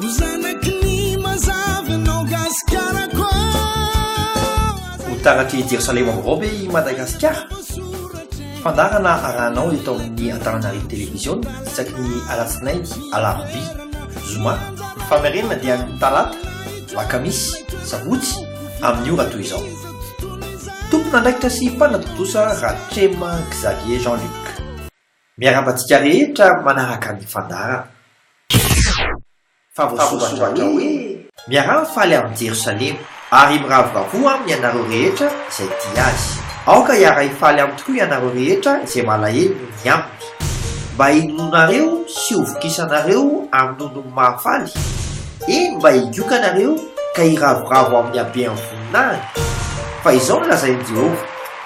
Ho zanaky ny mazava ianao Gasikarako ah. Ho taratry Jerosalema vaovao ve i Madagasikara? Fandaharana arahanao eto amin'ny Antananarivo Television isaky ny alatsinainy, alarobia, zoma. Famerenana dia ny talata, lakamisy, sabotsy amin'ny ora toy izao. Tompon'andraikitra sy mpanatontosa Ratrema Xavier Jean Luc. Miarahaba antsika rehetra manaraka ny fandaharana. Fa voasoratra hoe. Miaraha mifaly amin'i Jerosalema. Ary miravoravoa aminy ianareo rehetra izay tia azy. Aoka hiara-hifaly aminy tokoa ianareo rehetra izay malahelo noho ny aminy. Mba hinoanareo sy hovokisanareo amin'ny nonony mahafaly, eny, mba higiokanareo ka hiravoravo amin'ny habean'ny voninahiny. Fa izao no lazain'i Jehovah.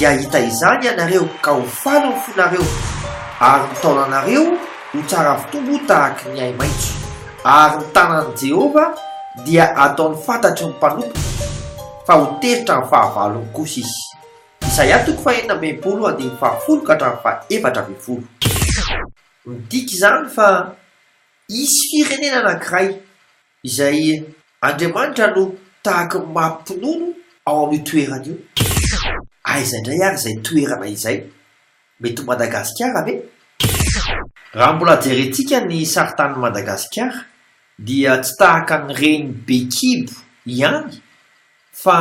Dia hahita izany ianareo, ka ho faly ny fonareo, ary ny taolanareo ho tsara avy tombo tahaka ny ahi-maitso, ary ny tanan'i Jehovah dia hataony fantatry ny mpanompony, fa ho tezitra amin'ny fahavalony kosa izy. Isaia toko fahenina ambin'ny folo andininy fahafolo ka hatramin'ny fahefatra ambin'ny folo. Midika izany fa hisy firenena anankiray Izay Andriamanitra no tahaka ny maha-mpinono ao amin'io toerana io. Aiza indray ary izay toerana izay? Mety ho Madagasikara ve? Raha mbola jerentsika ny saritanin'i Madagasikara dia tsy tahaka ny reny be kibo ihany fa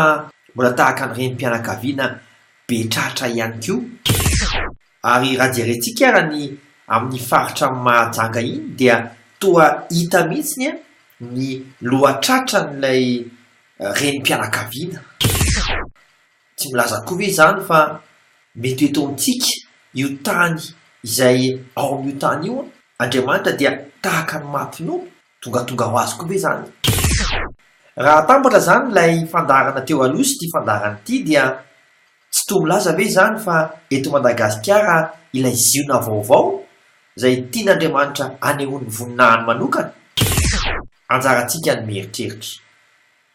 mbola tahaka ny renim-pianakaviana be tratra ihany koa. Ary raha jerentsika ara ny amin'ny faritra Mahajanga iny dia toa hita mihitsiny an ny lohatratran'ilay renim-pianakaviana. Tsy milaza akory ve izany fa mety ho eto amintsika io tany izay ao amin'io tany io an Andriamanitra dia tahaka ny maha mpinono Tongatonga ho azy koa ve izany? Raha atambatra izany ilay fandaharana teo aloha sy ity fandaharana ity dia tsy toa milaza ve izany fa eto Madagasikara ilay Ziona vaovao izay tian'Andriamanitra anehoan'ny voninahiny manokana? Anjarantsika ny mieritreritra.